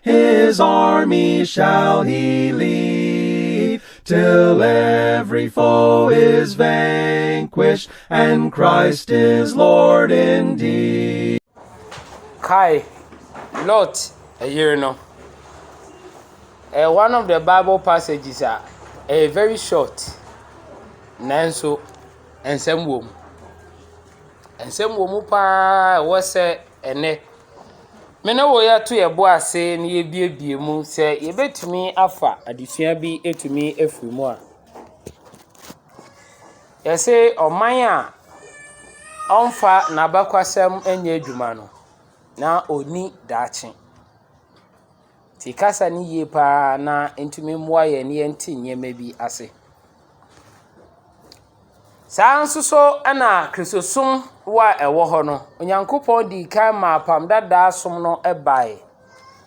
His army shall he lead, till every foe is vanquished, and Christ is Lord indeed. Kai Lot ɛyere no. Uh, one of the Bible passages are uh, very short. Nanso, nsɛm wɔ mu. Nsɛm wɔ mu paa ɛwɔ sɛ Ɛnnɛ, me ne wo yɛto yɛn bo ase na yɛabuebue mu sɛ yɛbɛtumi afa adesua bi atumi afiri mu a, yɛse ɔman a ɔmfa n'abakwasɛm nyɛ adwuma no, na ɔnni daakye. Nti kasa no yie paa na ɛtumi mmoa yɛn na yɛnte nneɛma bi ase. Saa ara nso so na Kristosom wɔ a ɛwɔ hɔ no, Onyankopɔn dii kan maa Apam Dadaa som no baeɛ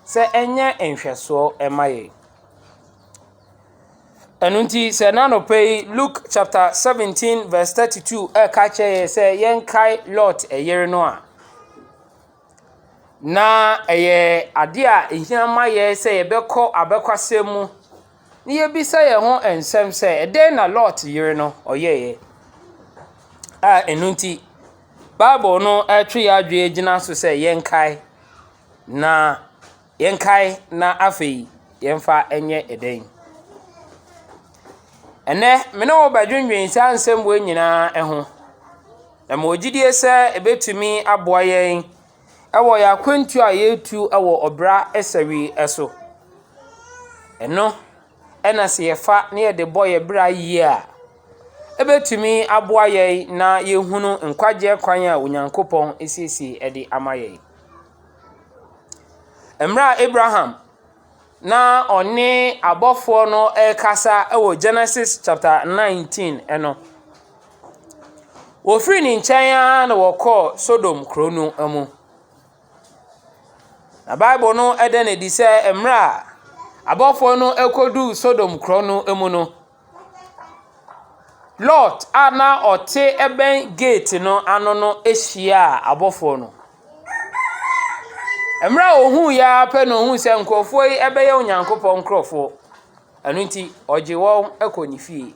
sɛ ɛnyɛ nhwɛsoɔ mma yɛn. Ɛno nti, sɛ ɛnnɛ anɔpa yi Luke chapter seventeen verse thirty two reka akyerɛ yɛn sɛ yɛnkae Lot yere no a, Na ɛyɛ adeɛ a ɛhia ma yɛn sɛ yɛbɛkɔ abɛkwasɛm mu na yɛabisa yɛn ho nsɛm sɛ, ɛdeɛn na Lot yere no ɔyɛeɛ a ɛno nti, Bible no retwe yɛn adwene gyina so sɛ yɛnkae na . Yɛnkae na afei yɛmfa nyɛ dɛn? Ɛnnɛ, me ne wo bɛdwendwen saa nsɛmmoa yi nyinaa ho, na mewɔ gyidie sɛ ɛbɛtumi aboa yɛn wɔ yɛn akwantuo a yɛretu wɔ ɔbra asau so. Ɛno na sɛ yɛfa na yɛde bɔ yɛn bra yie a, ɛbɛtumi aboa yɛn na yɛahunu nkwagyeɛ kwan a Onyankopɔn asiesie de ama yɛn. Mmerɛ a Abraham na ɔne abɔfoɔ no rekasa wɔ Genesis chapter nineteen no, wɔfiri ne nkyɛn ara na wɔkɔɔ Sodom kuro no mu. Na Bible no da no adi sɛ mmerɛ a abɔfoɔ no kɔduruu Sodom kuro no mu no, Lot a na ɔte bɛn gate no ano no hyiaa abɔfoɔ no. Mmerɛ a ɔhuiɛ ara pɛ na ɔhuu sɛ nkurɔfoɔ yi bɛyɛ Onyankopɔn nkurɔfoɔ. Ɛno nti, ɔgye wɔn kɔɔ ne fie.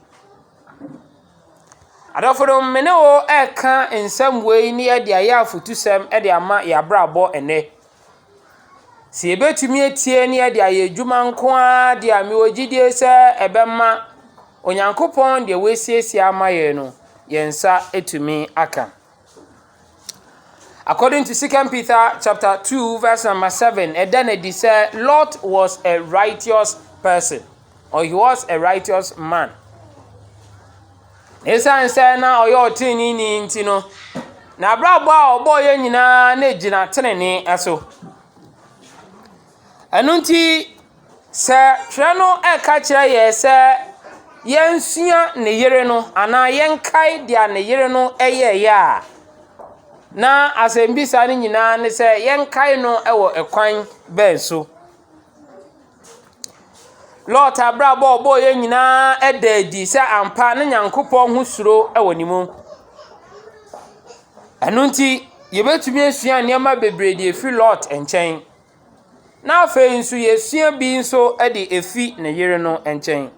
Adɔfonom, me ne wo reka nsɛm wei na yɛde ayɛ afutusɛm de ama yɛn abrabɔ nnɛ. Sɛ yɛbɛtumi atie na yɛde ayɛ adwuma nko ara deɛ a, mewɔ gyidie sɛ ɛbɛma Onyankopɔn deɛ wasiesie ama yɛn no, yɛn nsa atumi aka. According to Second Peter chapter two verse number seven, ɛda no adi sɛ Lot was a righteous person or he was a righteous man. Esiane sɛ na ɔyɛ ɔtreneeni nti no, n'abrabɔ a ɔbɔeɛ nyinaa na ɛgyina trenee so. Ɛno nti, sɛ Twerɛ no reka kyerɛ yɛn sɛ yɛnsua ne yere no anaa yɛnkae deɛ ne yere no yɛeɛ a, na asɛmmisa no nyinaa ne sɛ, yɛnkae no wɔ ɛkwan bɛn so? Lot abrabɔ a ɔbɔeɛ nyinaa ɛda adi sɛ ampa ne Nyankopɔn ho suro wɔ ne mu. Ɛno nti, yɛbɛtumi asua nneɛma bebree de afiri Lot nkyɛn. Na afei nso yɛsua bi nso de afiri ne yere no nkyɛn.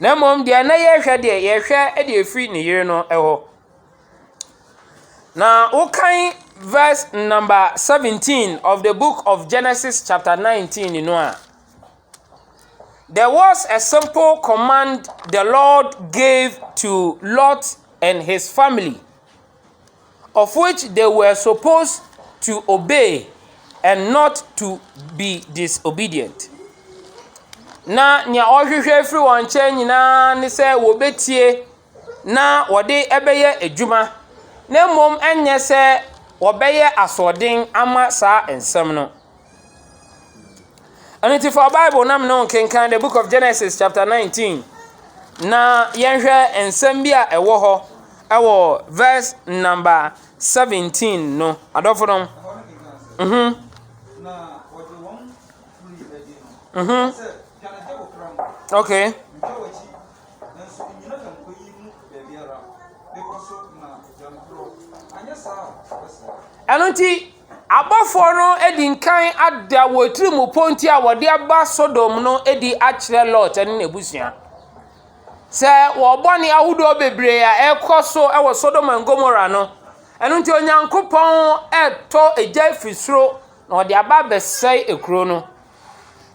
Na mmom deɛ na yɛrehwɛ deɛ, yɛhwɛ de afiri ne yere no hɔ. Na wokan verse number seventeen of the book of Genesis chapter nineteen no a, there was a simple command the Lord gave to Lot and his family of which they were suppose to obey and not to be disobedient. Na nea ɔhwehwɛ firi wɔn nkyɛn nyinaa ne sɛ wɔbɛtie na wɔde bɛyɛ adwuma, na mmom ɛnyɛ sɛ wɔbɛyɛ asoɔden ama saa nsɛm no. Ɛno nti fa Bible na me ne wo nkenkan The Book of Genesis chapter nineteen, na yɛnhwɛ nsɛm bi a ɛwɔ hɔ wɔ verse number seventeen no. Adɔfonom, mhm. Mhm. Okay. nanso ennyina nnipa yi mu baabiara. Bepɔ so na gya no trɔ, anyɛ saa a wɔbɛsɛe. Ɛno nti, abɔfoɔ no adi nkan ada wɔn atirimpɔ nti a wɔde aba Sodom no adi akyerɛ Lot ne n'abusua. Sɛ wɔn bɔne ahodoɔ bebree a ɛrekɔ so wɔ Sodom and Gomorrah no, ɛno nti Onyankopɔn retɔ egya firi soro na ɔde aba abɛsɛe ekuro no.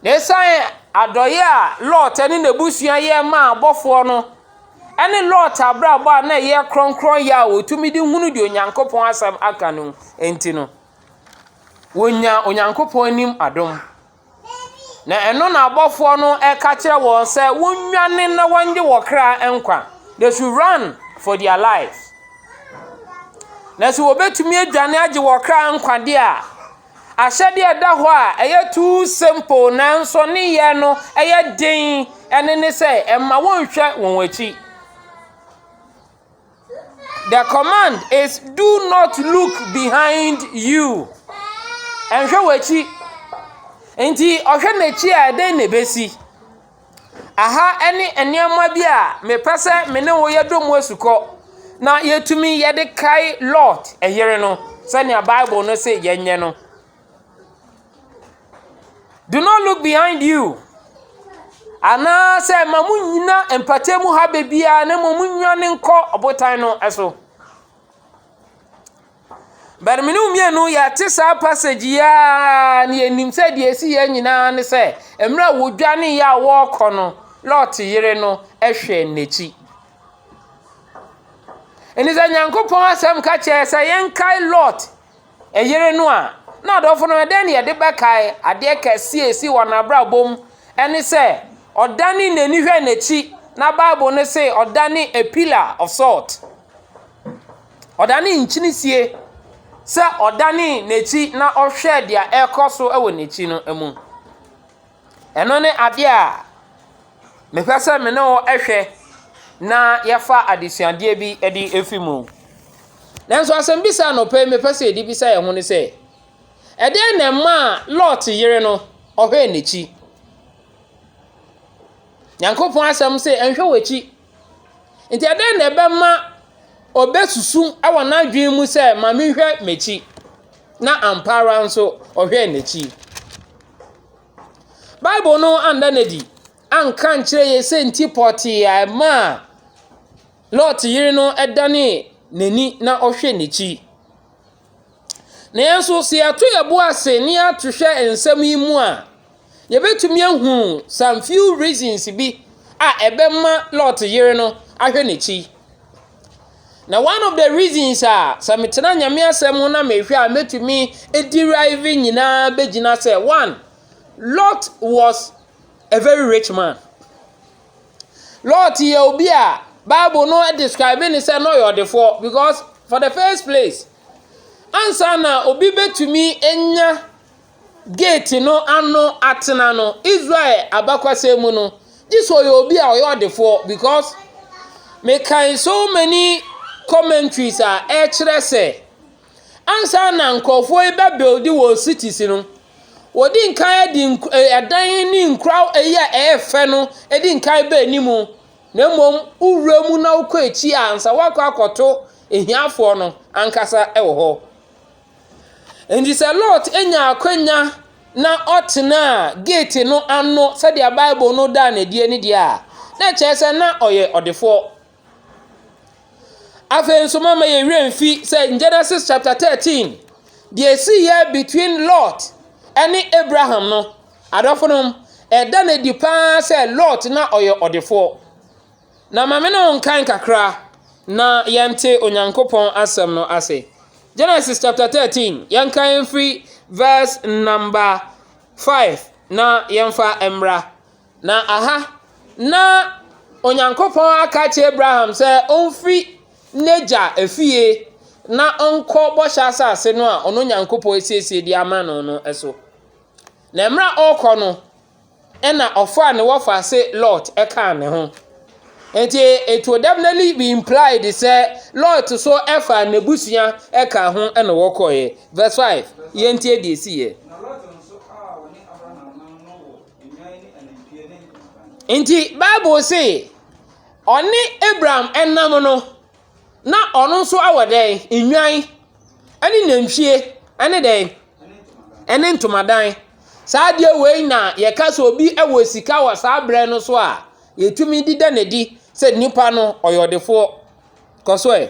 Na ɛsiane adɔeɛ a Lot ne n'abusua yɛ maa abɔfoɔ no ne Lot abrabɔ a na ɛyɛ kronkronyɛ a wɔtumi de hunu deɛ Onyankopɔn asɛm aka no nti no, wɔnyaa Onyankopɔn anim adom. Na ɛno na abɔfoɔ no ka kyerɛ wɔn sɛ wɔnnwane na wɔngye wɔn kra nkwa. They should run for their lives. Na sɛ wɔbɛtumi adwane agye wɔn kra nkwa deɛ a, Ahyɛde a ɛda hɔ a ɛyɛ too simple nanso ne yɛ no yɛ den ɛne ne sɛ ɛmma wɔnhwɛ wɔn akyi. The command is do not look behind you. Nhwɛ w'akyi. Nti ɔhwɛ n'akyi a ɛdɛn na ɛbɛsi? Aha ne nneɛma bi a mepɛ sɛ me ne wo yɛdɔ mu asukɔ na yɛtumi yɛde kae Lot yere no sɛdeɛ Bible no se yɛnyɛ no. Do not look behind you anaasɛ ma mo nnyina mpata mu ha baabiara na mmom mo nnwane nkɔ ɔbotan no so. But me ne wo mmienu yɛate saa passage yi ara na yɛnim sɛ deɛ ɛsi yɛn nyinaa ne sɛ mmerɛ a wɔdwaneeɛ a wɔrekɔ no Lot yere no hwɛɛ n'akyi. Ɛni sɛ Nyankopɔn asɛm ka kyerɛ sɛ yɛnkae Lot yere no a na adɔfo no ɛdɛn na yɛde bɛkae adeɛ kɛseɛ a ɛsi wɔn abrabɔ mu ɛne sɛ ɔdane n'ani hwɛ n'akyi na Bible no se ɔdane a pillar of salt. Ɔdanee nkyene sie sɛ ɔdanee n'akyi na ɔhwɛɛ deɛ ɛrekɔ so wɔ n'akyi no mu. Ɛno ne adeɛ a mepɛ sɛ me ne wo hwɛ na yɛfa adesuadeɛ bi de afi mu. Nanso asɛmbisa anɔpa yi mepɛ sɛ yɛde bisa yɛn ho ne sɛ, ɛdeɛn na ɛmaa Lot yere no ɔhwɛɛ n'akyi? Nyankopɔn asɛm se nhwɛ w'akyi Enti ɛdɛn na ɛbɛma obesusu wɔ n'adwene mu sɛ, Ma menhwɛ m'akyi, na ampa ara nso ɔhwɛɛ n'akyi? Bible no anna no adi anka ankyerɛ yɛn sɛ nti pɔtee a ɛmaa Lot yere no danee n'ani na ɔhwɛɛ n'akyi. Nanso sɛ yɛto yɛn bo ase na yɛato hwɛ nsɛm yi mu a, yɛbɛtumi ahu some few reasons bi a ɛbɛma Lot yere no ahwɛ n'akyi. Na one of the reasons a sɛ metena Nyame asɛm ho na mehwɛ a mɛtumi aderive nyinaa bɛgyina sɛ, one, Lot was a very rich man. Lot yɛ obi a bible no describe ne sɛ na ɔyɛ ɔdefoɔ because for the first place ansa na obi bɛtumi anya gate no ano atena no Israel abakwasɛm mu no gye sɛ ɔyɛ obi a ɔyɛ ɔdefoɔ because mekan so many commentaries a ɛkyerɛ sɛ Ansa na nkurɔfoɔ yi bɛ build wɔn cities no, wɔdi nkan de nk eh ɛdan ne nkura yi a ɛyɛ fɛ no di nkan ba anim, na mmom wowura mu na wokɔ akyi a, ansa woakɔ akɔto ahiafoɔ no ankasa wɔ hɔ. Enti sɛ Lot nya akwanya na ɔtenaa gate no ano sɛdeɛ Bible no daa no adie no deɛ a, na ɛkyerɛ sɛ na ɔyɛ ɔdefoɔ. Afei nso momma yɛn werɛ mfi sɛ in Genesis chapter thirteen, deɛ ɛsiiɛ between Lot ne Abraham no, adɔfonom, ɛda no adi pa ara sɛ Lot na ɔyɛ ɔdefoɔ. Na ma me ne wo nkan kakra na yɛnte Onyankopɔn asɛm no ase. Genesis chapter thirteen, yɛnkan mfiri verse number five na yɛmfa mmra. Na aha na Onyankopɔn aka akyerɛ Abraham sɛ ɔmfiri n'agya efie na ɔnkɔ bɔhyɛ asase no a ɔno Onyankopɔn asiesie de ama no no so. Na mmerɛ a ɔrekɔ no, ɛna ɔfaa ne wɔfaase Lot kaa ne ho. Nti it will definitely be implied sɛ Lot nso faa n'abusua kaa ho na wɔkɔeɛ. Verse 5, yɛntie deɛ ɛsiiɛ. Enti Bible se, ɔne Abraham nam no, na ɔno nso wɔ dɛn? Nnwan ne nantwie ne dɛn? Ne ntomadan. Saa adeɛ wei na wɔka sɛ obi wɔ sika wɔ saa berɛ no so a, wɔtumi de da no adi sɛ nipa no, ɔyɛ ɔdefoɔ. Kɔ so ɛ.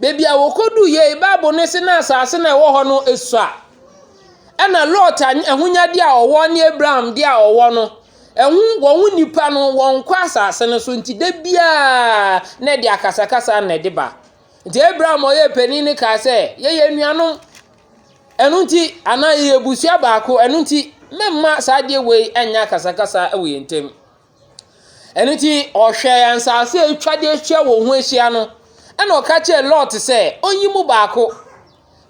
Baabi a wɔkɔduiɛ yi, Bible no se na asase no a ɛwɔ hɔ no sua. Ɛna Lot ahonyadeɛ a ɔwɔ ne Abraham deɛ a ɔwɔ no, ɛho wɔn nipa no wɔnkɔ asase no so nti da biara na ɛde akasakasa na ɛde ba. Nti Abraham a ɔyɛ panin no kaa sɛ, yɛyɛ anuanom, ɛno nti anaa yɛyɛ abusua baako, ɛno nti meremma saa adeɛ wei nyɛ akasakasa wɔ yɛn ntam. Ɛno nti, ɔhwɛɛ nsase a atwa de ahyia wɔn ho ahyia no, ɛnna ɔka kyerɛɛ Lot sɛ ɔnyi mu baako.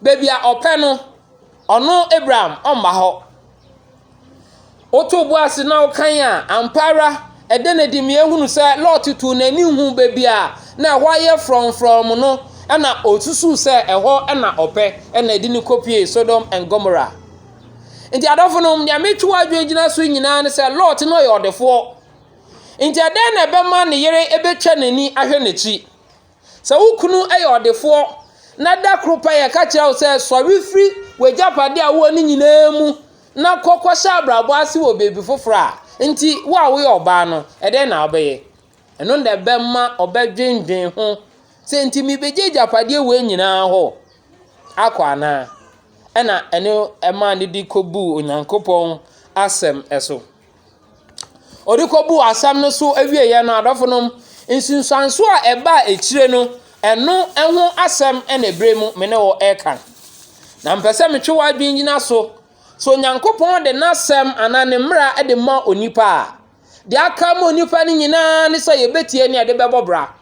Baabi a ɔpɛ no, ɔno Abraham ɔmma hɔ. Wotoo bo ase na wokan a, ampa ara ɛda no adi, mehu sɛ Lot too n'ani huu baabi a na ɛhɔ ayɛ frɔmfrɔm no, ɛnna ɔsusuw sɛ ɛhɔ na ɔpɛ, ɛnna ɛde no kɔpuee Sodom and Gomorrah. Nti adɔfo no, nea metwe w'adwene gyina so nyinaa ne sɛ Lot no ɔyɛ ɔdefoɔ. Nti ɛdɛn na ɛbɛma ne yere bɛtwa n'ani ahwɛ n'akyi? Sɛ wo kunu yɛ ɔdefoɔ na da koro pɛ yɛka kyerɛ wo sɛ sɔre firi w'agyapadeɛ a wowɔ no nyinaa mu na kɔ kɔhyɛ abrabɔ ase wɔ baabi foforɔ a, nti wo a woyɛ ɔbaa no, ɛdɛn na wobɛyɛ? Ɛno na ɛbɛma ɔbɛdwendwen ho sɛ nti mebɛgye agyapadeɛ wei nyinaa hɔ akɔ anaa ɛna ɛno ɛma ne de kɔbuu onyankopɔn asɛm so ɔde kɔbuu asɛm no so awieɛ no adɔfo nom nsunsuanso a ɛbaa akyire no ɛno ɛho asɛm ɛna ɛberɛ mu me ne wɔ ɛka na mpɛ sɛ metwe w'adwene nyina so so onyankopɔn de n'asɛm anaa ne mmara de ma onipa a Deɛ aka ama onipa no nyinaa ne sɛ yɛbɛtie na yɛde bɛbɔ bra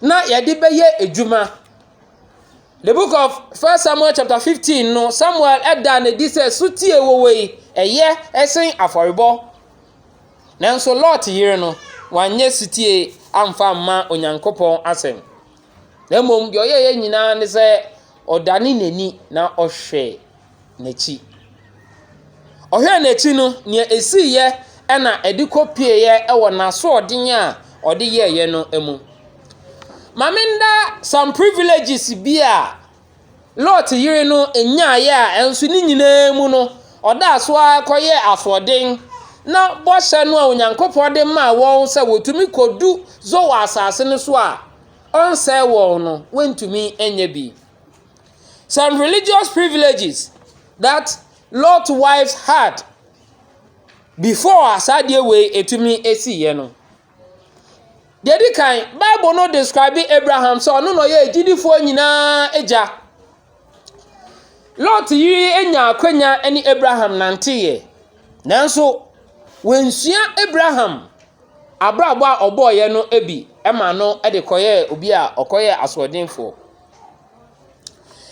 na yɛde bɛyɛ adwuma. The book of First Samuel chapter 15 no, Samuel da no adi sɛ sotie wɔ wɔ yi, ɛyɛ sen afɔrebɔ. Nanso Lot yere no, wanyɛ sotie amfa mma Onyankopɔn asɛm. Na mmom deɛ ɔyɛeɛ nyinaa ne sɛ ɔdane n'ani na ɔhwɛ n'akyi. Ɔhwɛɛ n'akyi no, nea esiiɛ na ɛde kɔpueeɛ wɔ n'asoɔden a ɔde yɛeɛ no mu. Ma menna some privileges bi a Lot yere no nyaeɛ a ɛnso ne nyinaa mu no, ɔdaa so ara kɔyɛɛ asoɔden na bɔhyɛ no a Onyankopɔn de maa wɔn sɛ wɔtumi kɔdu Zoar asase no so a ɔnsɛe wɔn no, wɔntumi nyɛ bi. Some religious privileges that Lot wives had before a saa adeɛ wei ɛtumi siiɛ no, deɛ ɛdi kan, Bible no describe Abraham sɛ ɔno na ɔyɛ agyidifoɔ nyinaa agya. Lot yere nya akwanya ne Abraham nanteeɛ, nanso wɔnsua Abraham abrabɔ a ɔbɔeɛ no bi ma no de kɔyɛɛ obi a ɔkɔyɛɛ asoɔdenfoɔ.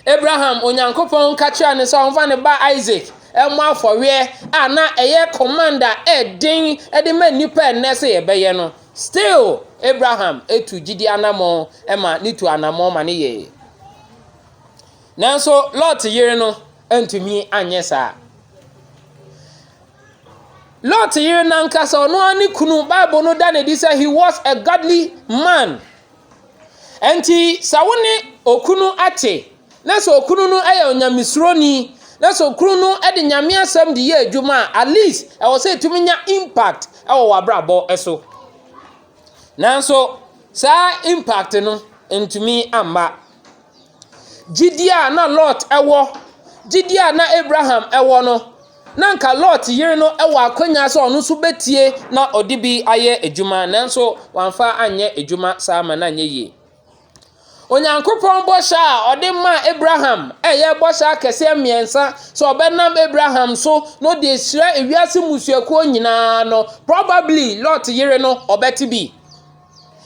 Abraham, Onyankopɔn ka kyerɛɛ no sɛ ɔmfa ne ba Isaac mmɔ afɔreɛ a na ɛyɛ command a ɛden de ma nnipa ɛnnɛ sɛ yɛbɛyɛ no. Still, Abraham tu gyidi anammɔn ma ne tu anammɔn ma ne yɛeɛ. Nanso Lot yere no antumi anyɛ saa. Lot yere no ankasa ɔno ara ne kunu, Bible no da no adi sɛ he was a godly man. Enti sɛ wo ne okunu te na sɛ okunu no yɛ onyamesuroni na sɛ okunu no de Nyame asɛm de yɛ adwuma a, at least ɛwɔ sɛ ɛtumi nya impact wɔ w'abrabɔ so. Nanso saa impact no ntumi mma. Gyidie a na Lot wɔ, gyidie a na Abraham wɔ no, na anka Lot yere no wɔ akwanya sɛ ɔno nso bɛtie na ɔde bi ayɛ adwuma, nanso wamfa anyɛ adwuma saa ma no anyɛ yie. Onyankopɔn bɔhyɛ a ɔde maa Abraham a ɛyɛ bɔhyɛ akɛseɛ mmiɛnsa sɛ ɔbɛnam Abraham so na ɔde ahyira ewiase mmusuakuo nyinaa no, probably Lot yere no, ɔbɛte bi.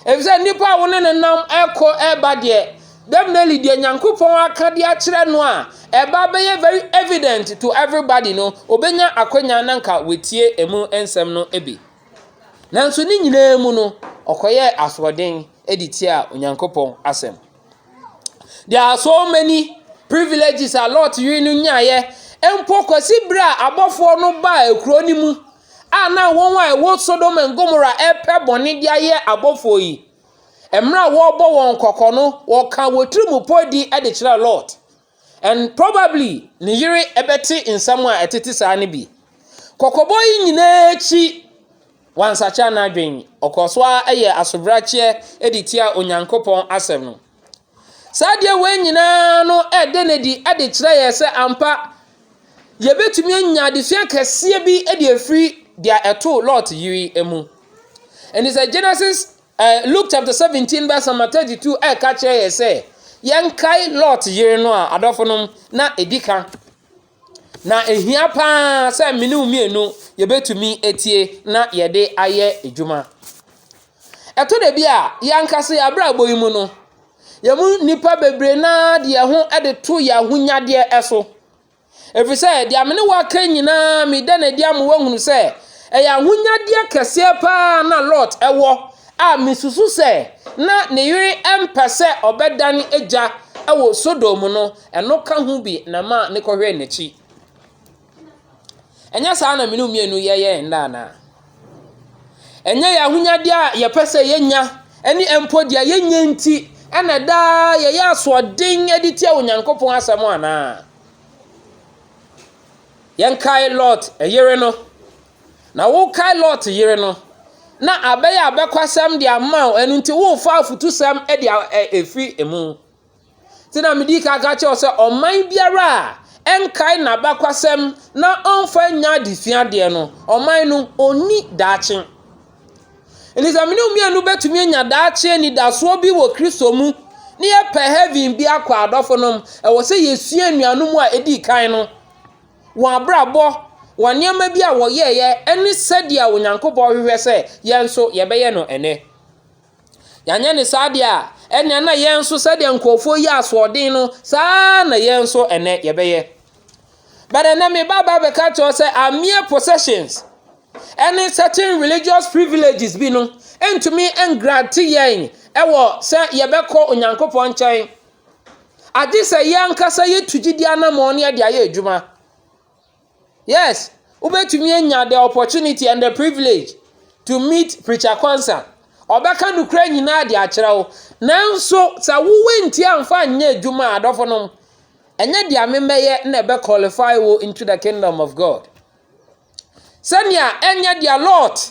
Efisɛ nnipa a wo ne no nam ɛkɔ ɛba deɛ, definitely deɛ Nyankopɔn aka de akyerɛ no a, ɛba bɛyɛ very evident to everybody no, obenya akwanya na nka watie emu nsɛm no bi. Nanso ne nyinaa mu no, ɔkɔyɛɛ asoɔden de tia Onyankopɔn asɛm. There are so many privileges a Lot yere no nyaeɛ mpo kɔsi berɛ a abɔfoɔ no baa kuro no mu a na wɔn a ɛwɔ Sodom and Gomorrah repɛ bɔne de ayɛ abɔfoɔ yi, mmerɛ a wɔrebɔ wɔn kɔkɔ no, wɔka wɔ tiri mu pɔdi de kyerɛ Lot. And probably ne yere bɛte nsɛm a ɛtete saa no bi. Kɔkɔbɔ yi nyinaa akyi, wansakyera n'adwene, ɔkɔɔ so ara yɛ asobrakyeɛ de tia Onyankopɔn asɛm no. Saa adeɛ wei nyinaa no reda no adi de kyerɛ yɛn sɛ ampa yɛbɛtumi anya adesua kɛseɛ bi de afiri deɛ ɛtoo Lot yere mu. Ɛnti sɛ Genesis, eh, Luke chapter 17 verse number 32 ɛka kyerɛ yɛ sɛ yɛnkae Lot yere no a adɔfo nom na ɛdi ka. Na ehia pa ara sɛ me ne wo mmienu yɛbɛtumi atie na yɛde ayɛ adwuma. Ɛtɔ da bi a, yɛn ankasa yɛn abrabɔ yi mu no, yɛn mu nnipa bebree no ara de yɛn ho de to yɛn ahonyadeɛ so. Ɛfiri sɛ, deɛ me ne wo aka yi nyinaa, meda no adi ama woahunu sɛ, ɛyɛ ahonyadeɛ kɛseɛ pa ara na Lot wɔ a mesusu sɛ na ne yere mpɛ sɛ ɔbɛdan gya wɔ Sodom no. Ɛno ka ho bi na maa mekɔhwɛɛ n'akyi. Ɛnyɛ saa na me ne wo mmienu yɛyɛ yɛn nna anaa? Ɛnyɛ yɛn ahonyadeɛ a yɛpɛ sɛ yɛnya ne mpo deɛ yɛnyɛ nti na daa yɛyɛ asoɔden de tia Onyankopɔn asɛm anaa? Yɛnkae Lot yere no. Na wokae Lot yere no, na abɛyɛ abɛkwasɛm de ama wo, ɛno nti worefa afutusɛm de afiri mu. Nti na medi kan ka kyerɛ wo sɛ ɔman biara a ɛnkae n'abakwasɛm na ɔmfa nyɛ adesua deɛ no, ɔman no ɔnni daakye. Nti sɛ mene wo mmienu bɛtumi anya daakye anidasoɔ bi wɔ Kristo mu ne yɛpɛ heaven bi akɔ adɔfo nom, ɛwɔ sɛ yɛsua anuanom a ɛdi kan no, wɔn abrabɔ, wɔn nneɛma bi a wɔyɛeɛ, ɛne sɛdeɛ Onyankopɔn hwehwɛ sɛ yɛn nso yɛbɛyɛ no ɛnɛ. Yɛanyɛ no saa deɛ a, ɛnneɛ na yɛn nso sɛdeɛ nkurɔfoɔ yi asoɔden no, saa na yɛn nso ɛnɛ yɛbɛyɛ. But ɛnɛ me ba ba bɛka kyerɛ sɛ our mere possessions ɛne certain religious privileges bi no ntumi ngrante yɛn ɛwɔ sɛ yɛbɛkɔ Onyankopɔn nkyɛn. Agye sɛ yɛn ankasa yɛtu gyidi anammɔn ne yɛde ayɛ adwuma. Yes, wobɛtumi anya the opportunity and the privilege to meet preacher Kwanzaa. Ɔbɛka nokorɛ nyinaa de akyerɛ wo. Nanso sɛ wowɔ nti amfa nyɛ adwuma a adɔfo nom, ɛnyɛ deɛ memɛyɛ na ɛbɛ qualify wo into the kingdom of God. Sɛnea ɛnyɛ deɛ Lot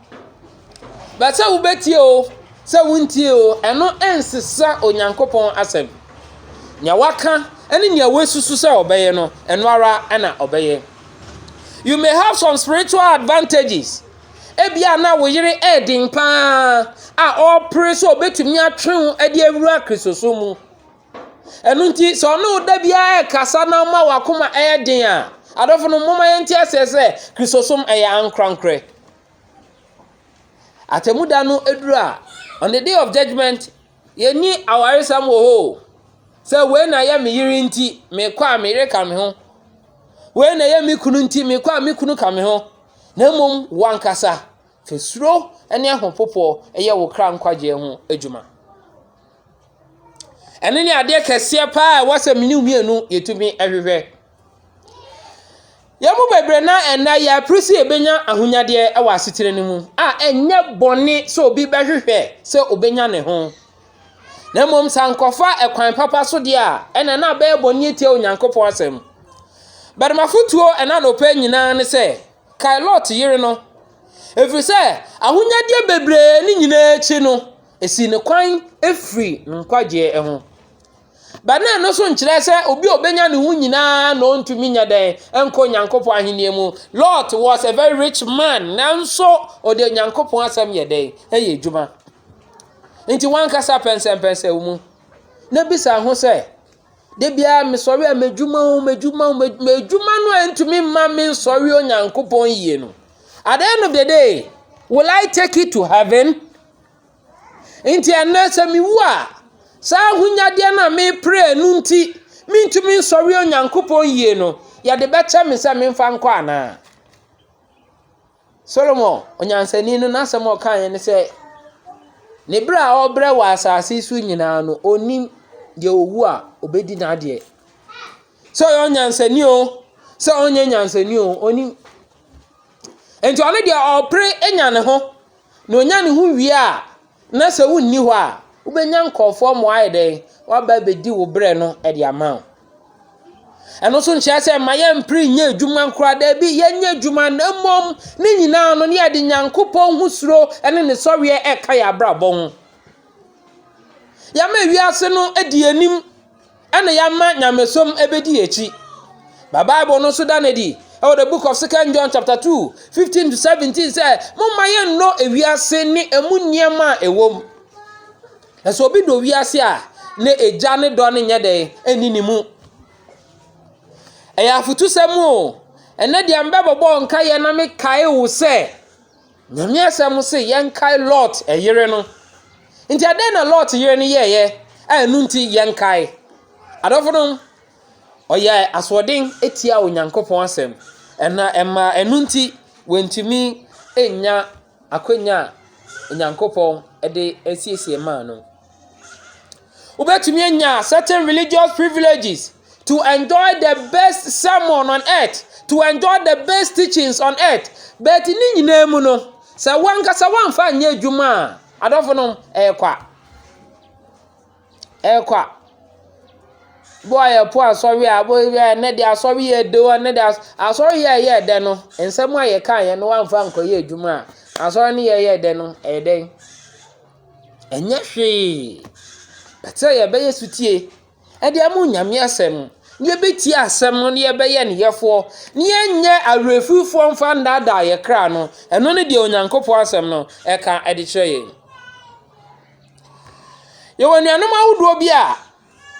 Ba sɛ wobɛtie o, sɛ wontie o, ɛno nsesa Onyankopɔn asɛm. Deɛ waka ne deɛ wasusu sɛ ɔbɛyɛ no, ɛno ara na ɔbɛyɛ. You may have some spiritual advantages. Ebia na wo yere yɛ den pa ara a ɔrepere sɛ ɔbɛtumi atwe wo de awura Kristosom mu. Ɛno nti sɛ ɔne wo da biara rekasa na ama w'akoma ɛyɛ den a, adɔfo no momma yɛnte aseɛ sɛ Kristosom ɛyɛ ankorankorɛ. Atemmuda no aduru a, on the day of judgment, yɛnni awaresɛm wɔ hɔ o. Sɛ wei na ɛyɛ me yere nti mekɔ a me yere ka me ho. Wei na ɛyɛ me kunu nti mekɔ a me kunu ka me ho. Na mmom wankasa fa suro ne ahopopoɔ ɛyɛ wo kra nkwagyeɛ ho adwuma. Ɛno ne adeɛ kɛseɛ pa ara a ɛwɔ sɛ me ne wo mmienu yɛtumi hwehwɛ. Yɛn mu bebree no ara nnɛ yɛpere sɛ yɛbɛnya ahonyadeɛ wɔ asetena no mu a ɛnyɛ bɔne sɛ obi bɛhwehwɛ sɛ ɔbɛnya ne ho. Na mmom sɛ ankɔfa kwan papa so deɛ a, ɛnna na abɛyɛ bɔne atia Onyankopɔn asɛm. But m'afotuo ɛna anɔpa yi nyinaa ne sɛ, kae Lot yere no, ɛfiri sɛ ahonyadeɛ bebree no nyinaa akyi no, Esi no kwan firi nkwagyeɛ ho. But na ɛno nso nkyerɛ sɛ obi a obenya ne ho nyinaa na ɔntumi nyɛ dɛn nkɔ Nyankopɔn ahenni mu. Lot was a very rich man nanso ɔde Nyankopɔn asɛm yɛ dɛn ɛyɛ adwuma. Nti wankasa pɛnsɛmpɛnsɛ wo mu na bisa ho sɛ de biara mesɔre a m'adwuma o m'adwuma o m'adwuma no a ntumi mma me nsɔre Onyankopɔn yie no. At the end of the day, will I take it to heaven? Enti ɛnnɛ sɛ mewu a, saa ahonyadeɛ no a mepere no nti, mentumi nsɔre Onyankopɔn yie no, yɛde bɛkyɛ me sɛ memfa nkɔ anaa? Solomon onyansani no n'asɛm a ɔkaeɛ ne sɛ, ne berɛ a ɔrebrɛ wɔ asase so nyinaa no, ɔnnim deɛ ɔwu a ɔbɛdi n'adeɛ. Sɛ ɔyɛ onyansani o, sɛ ɔnyɛ nyansani o, ɔnnim. Enti ɔno deɛ ɔrepere anya ne ho. na onya ne ho wie a, na sɛ wonni hɔ a, wobɛnya nkurɔfoɔ ma wɔayɛ dɛn? Wɔaba abɛdi wo berɛ no de ama wo. Ɛno nso nkyerɛ sɛ mma yɛmpere nyɛ adwuma nkoraa, daabi, yɛnyɛ adwuma na mmom ne nyinaa no ne yɛde Nyankopɔn ho suro ne ne sɔreɛ ɛka yɛn abrabɔ ho. Yɛama wiase no adi yɛn anim. Ɛna yɛama nyamesom bɛdi akyi. Ba Bible no nso da no adi wɔ the book of second John chapter 2, 15 to 17 sɛ, momma yɛnnɔ ewiase ne ɛmu nneɛma a ɛwɔ mu. Na sɛ obi dɔ wiase a, na agya ne dɔ no nyɛ dɛn ɛni ne mu. Ɛyɛ afotusɛm o. Ɛnɛ deɛ mbɛbɔbɔ nkaeɛ na mekae wo sɛ, Nyame asɛm se yɛnkae Lot yere no. Nti ɛdɛn na Lot yere no yɛeɛ a ɛno nti yɛnkae? Adɔfo no, ɔyɛ asoɔden tia Onyankopɔn asɛm. Ɛna ɛma ɛno nti wɔntumi nnya akwanya a Onyankopɔn de asiesie maa no. Wobɛtumi anya certain religious privileges to enjoy the best sermon on earth, to enjoy the best teachings on earth. But ne nyinaa mu no, sɛ wankasa wamfa nyɛ adwuma a, adɔfo no ɛyɛ kwa. Ɛyɛ kwa. Bo a yɛpo asɔre a, bo yɛ ɛnɛ de asɔre yɛ de o, ɛnɛ de asɔre yɛ yɛ dɛ no, nsɛm a yɛka yɛ no wamfa nkɔyɛ adwuma a, asɔre no yɛ yɛ dɛ no, ɛyɛ dɛn? Ɛnyɛ hwee. But sɛ yɛbɛyɛ sotie de ama Onyame asɛm, na yɛbɛtie asɛm no na yɛbɛyɛ ne yɛfoɔ, na yɛnyɛ awerɛfirifoɔ mfa nnaadaa yɛn kra no, ɛno ne deɛ Onyankopɔn asɛm no ɛka de kyerɛ yɛn. Yɛwɔ anuanom ahodoɔ bi a,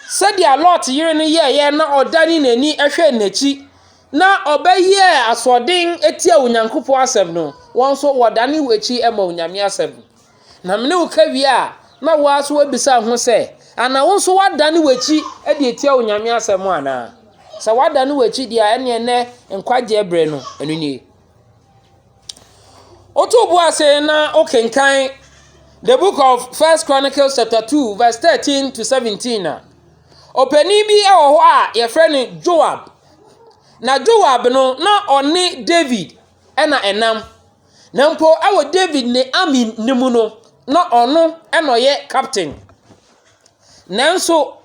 sɛdeɛ Lot yere no yɛeɛ na ɔdane n'ani hwɛɛ n'akyi, na ɔbɛyɛɛ asoɔden tiaa Onyankopɔn asɛm no, wɔn nso wɔdane wɔn akyi ma Onyame asɛm. Na me ne wo ka wie a, na wo ara nso woabisa wo ho sɛ, Ana wo nso woadane w'akyi de atia Onyame asɛm anaa? Sɛ woadane w'akyi deɛ a, ɛneɛ nnɛ nkwagyeɛ berɛ no, ɛno nie. Woto bo ase na wokenkan the book of First Chronicles chapter 2 verse 13 to 17 a, ɔpanin bi wɔ hɔ a yɛfrɛ no Joab. Na Joab no, na ɔne David na ɛnam. Na mpo wɔ David ne Ami no mu no, na ɔno na ɔyɛ captain. Nanso,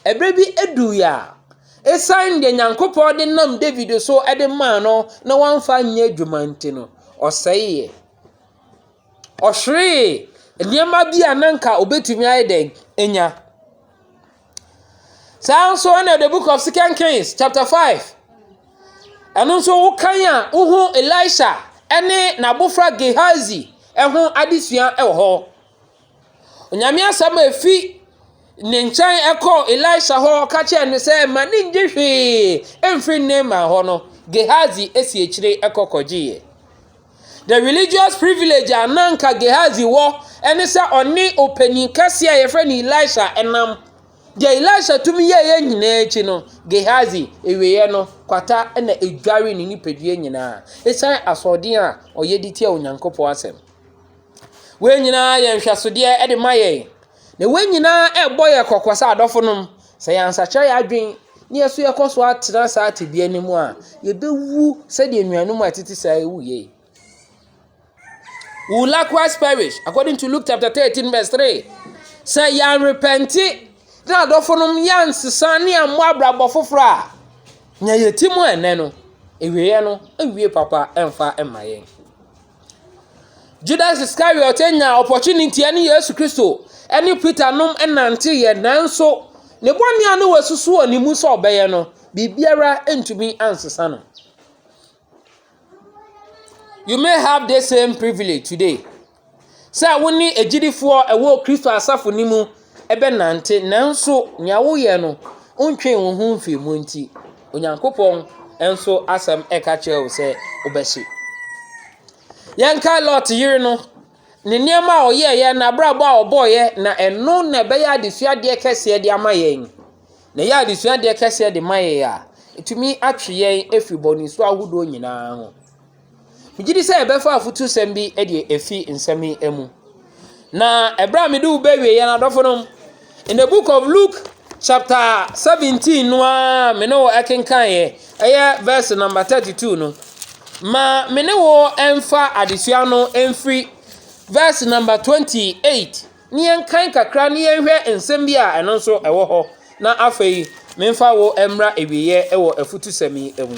ɛberɛ bi duui a, ɛsiane deɛ Nyankopɔn de nam David so de maa no na wamfa anyɛ adwuma nti no, ɔsɛeɛ. Ɔhweree nneɛma bi a na anka ɔbɛtumi ayɛ dɛn anya. Saa ara nso na the book of second kings chapter five ɛno nso wokan a wohu Elisha ne n'abofra Gehazi ho adesua wɔ hɔ. Onyame asɛm a efi ne nkyɛn kɔɔ Elisha hɔ ka kyerɛɛ no sɛ mma ne ngye hwee mfiri Naaman hɔ no, Gehazi si akyire kɔ kɔgyeeɛ. The religious privilege a na anka Gehazi wɔ ne sɛ ɔne ɔpanyin kɛse a yɛfrɛ no Elisha nam. Deɛ Elisha tumi yɛeɛ nyinaa akyi no, Gehazi awieeɛ no, kwata na ɛdwaree ne nipadua nyinaa ɛsiane asoɔden a ɔyɛ de tia Onyankopɔn asɛm. Wei nyinaa yɛ nhwɛsodeɛ de ma yɛn, na wei nyinaa ɛrebɔ yɛn kɔkɔ sɛ adɔfonom, sɛ yɛansakyera yɛn adwene na yɛn nso yɛkɔ so ara tena saa tebea no mu a, yɛbɛwu sɛdeɛ anuanom a ɛtete saa yi wuiɛ yi. We will likewise perish, according to Luke chapter 13 verse 3. Sɛ yɛanrepɛnte na adɔfonom yɛansesa ne yɛammɔ abrabɔ foforɔ a, nea yɛte mu ɛnnɛ no, awieɛ no awie papa ɛmfa mma yɛn. Judas Iscariot nya opportunity ne Yesu Kristo ne Peter nom nanteeɛ nanso ne bɔne a na wasusu wɔ ne mu sɛ ɔbɛyɛ no, biribiara antumi ansesa no. You may have this same privilege today sɛ wo ne agyidifoɔ a ɛwɔ Kristo asafo no mu. bɛnante, nanso nea woyɛ no, wontwee wo ho mfii mu nti, Onyankopɔn nso asɛm ka kyerɛ wo sɛ wobɛhye. Yɛnkae Lot yere no, ne nneɛma a ɔyɛeɛ, n'abrabɔ a ɔbɔeɛ, na ɛno na ɛbɛyɛ adesuadeɛ kɛseɛ de ama yɛn. Na ɛyɛ adesuadeɛ kɛseɛ de ma yɛn a, ɛtumi atwe yɛn afiri bɔnesu ahodoɔ nyinaa ho. Megye di sɛ yɛbɛfa afutusɛm bi de afi nsɛm yi mu. Na ɛberɛ a mede wo ba awieeɛ no, adɔfonom, in the book of Luke chapter 17 no ara me ne wo kenkaneeɛ, ɛyɛ verse number 32 no. Ma me ne wo mfa adesua no mfiri verse number 28 ne yɛnkan kakra ne yɛnhwɛ nsɛm bi a ɛno nso ɛwɔ hɔ na afei memfa wo mmra awieeɛ wɔ afutusɛm yi mu.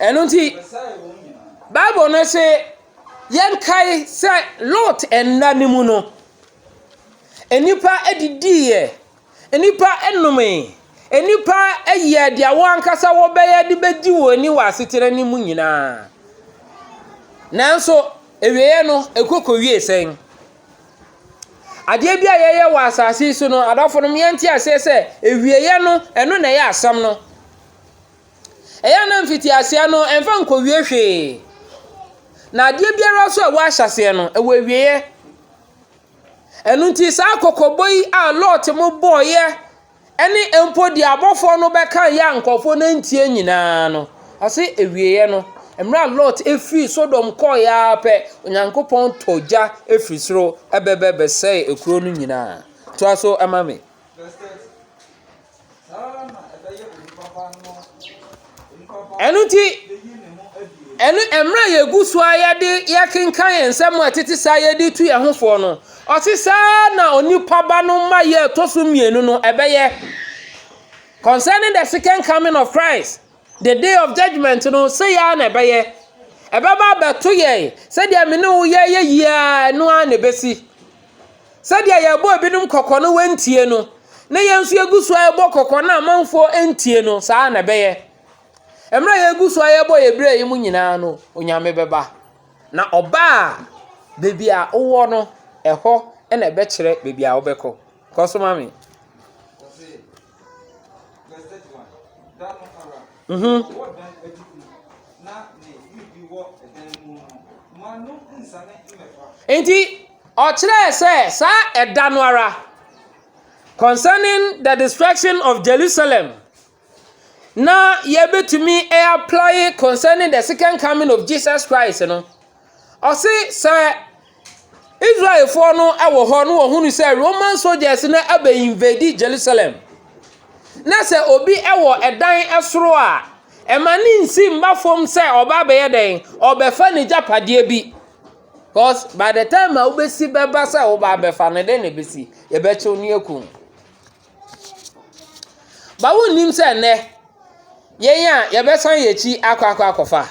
Ɛno nti, Bible no se yɛnkae sɛ Lot nna no mu no, nnipa didiiɛ, nnipa nomee, nnipa yɛɛ deɛ wɔn ankasa wɔbɛyɛ de bɛdi wɔn ani wɔ asetena no mu nyinaa. Nanso, awieeɛ no, ɛkɔ kɔwiee sɛn? Adeɛ bi a yɛyɛ wɔ asase yi so no, adɔfonom yɛnte aseɛ sɛ awieeɛ no, ɛno na ɛyɛ asɛm no. Ɛyɛ a na mfitiaseɛ no ɛmfa nkɔwie hwee. Na adeɛ biara nso a ɛwɔ ahyɛaseɛ no, ɛwɔ awieeɛ. Ɛno nti saa kɔkɔbɔ yi a Lot mo bɔeɛ ne mpo deɛ abɔfoɔ no bɛkaeɛ a nkurɔfoɔ no antie nyinaa no, ɔse awieeɛ no, mmerɛ a Lot firii Sodom kɔeɛ ara pɛ, Onyankopɔn tɔ gya firi soro bɛbɛ bɛsɛee kuro no nyinaa. Toa so ma me. Ɛno nti, ɛno mmerɛ a yɛgu so ara de yɛkenkan yɛn nsɛm a ɛtete saa a yɛde retu yɛn ho fo no, ɔse saa ara na onipa Ba no mmaeɛ a ɛtɔ so mmienu no ɛbɛyɛ. Concerning the second coming of Christ, the day of judgement no, sei ara na ɛbɛyɛ. Ɛbɛba abɛto yɛn sɛdeɛ me ne wo yɛreyɛ yi ara, ɛno ara na ɛbɛsi. Sɛdeɛ yɛrebɔ ebinom kɔkɔ na wɔantie no, na yɛn nso yɛgu so ara rebɔ kɔkɔ na amanfoɔ ntie no, saa ara na ɛbɛyɛ. Mmerɛ a yɛgu so ara yɛrebɔ yɛn berɛ yi mu nyinaa no, Onyame bɛba. Na ɔba a, baabi a wowɔ no, ɛhɔ na ɛbɛkyerɛ baabi a wobɛkɔ. Kɔ so ma me. Nti ɔkyerɛɛ sɛ saa ɛda no ara concerning the destruction of Jerusalem na yɛbɛtumi a apply concerning the second coming of Jesus Christ no. Ɔse sɛ Israelfoɔ no wɔ hɔ na wɔhunu sɛ Roman soldiers no abɛ invade Jerusalem na sɛ obi wɔ ɛdan soro a, ɛma ne nsi mma fam sɛ ɔreba abɛyɛ dɛn, ɔrebɛfa n'agyapadeɛ bi. Because by the time a wobɛsi bɛba sɛ woreba abɛfa no, dɛn na ɛbɛsi? Yɛbɛkye wo na yɛaku wo. Ba wonnim sɛ nnɛ yɛn a yɛbɛsan yɛn akyi akɔ akɔ akɔfa.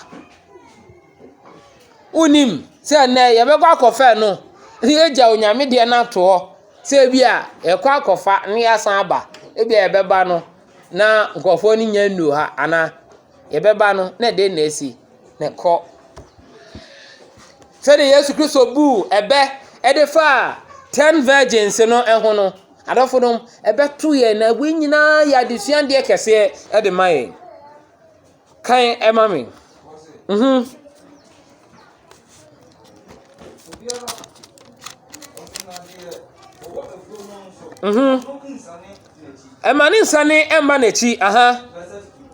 Wonnim sɛ nnɛ yɛbɛkɔ akɔfa ɛno na yɛagya Onyame deɛ no ato hɔ sɛ bi a yɛkɔ akɔfa na yɛasan aba. Ebi a yɛbɛba no na nkurɔfoɔ no nnya nnuu ha anaa yɛbɛba no na ɛdeɛn na asi. Na ɛkɔ. Sɛdeɛ Yesu Kristo buu ɛbɛ de faa ten virgins no ho no. Adɔfonom, ɛbɛto yɛn na wei nyinaa yɛ adesuadeɛ kɛseɛ de ma yɛn. Kan ɛma me. Mm-hmm. Mm-hmm. Ɛma ne nsa ne ɛmba n'akyi. Aha.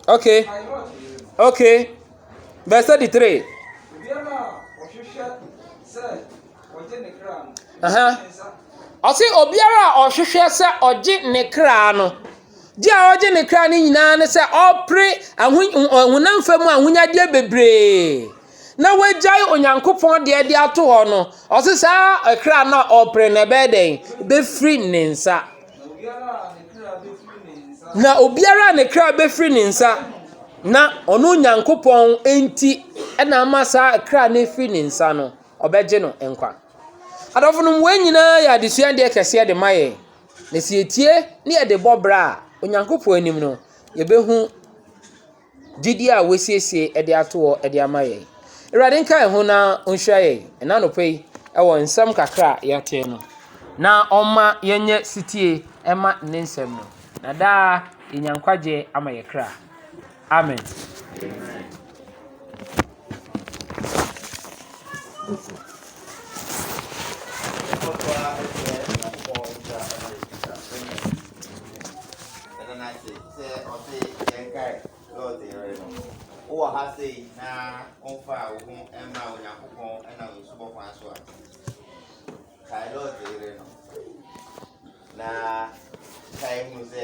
Okay. Okay. Verse 33. Ɔse obiara a ɔhwehwɛ sɛ ɔgye ne kra no, gye a ɔgye ne kra no nyinaa ne sɛ ɔpere honam fam ahonyadeɛ bebree na wagyae Onyankopɔn deɛ de ato hɔ no, ɔse saa kra no a ɔpere no ɛbɛyɛ dɛn? Ɛbɛfiri ne nsa. Na obiara a ne kra bɛfiri ne nsa na ɔno Onyankopɔn nti na ama saa kra no afiri ne nsa no. ɔbɛgye no nkwa. Adɔfonom, wei nyinaa yɛ adesuadeɛ kɛseɛ de ma yɛn, na sɛ yɛtie na yɛde bɔ bra a, Onyankopɔn anim no, yɛbɛhu gyidie a wɔasiesie de ato hɔ de ama yɛn. Awurade nka yɛn ho na ɔnhyira yɛn ɛna anɔpa yi wɔ nsɛm kakra a yɛate no, na ɔmma yɛnyɛ setie ɛma ne nsɛm no, na daa yɛnya nkwagyeɛ ama yɛ kra. Amen. wowɔ ha sei na womfa a wo ho mma onyankopɔn ɛna wo nsu bɔkwan so a kae lɔɔte yere no na kae hu sɛ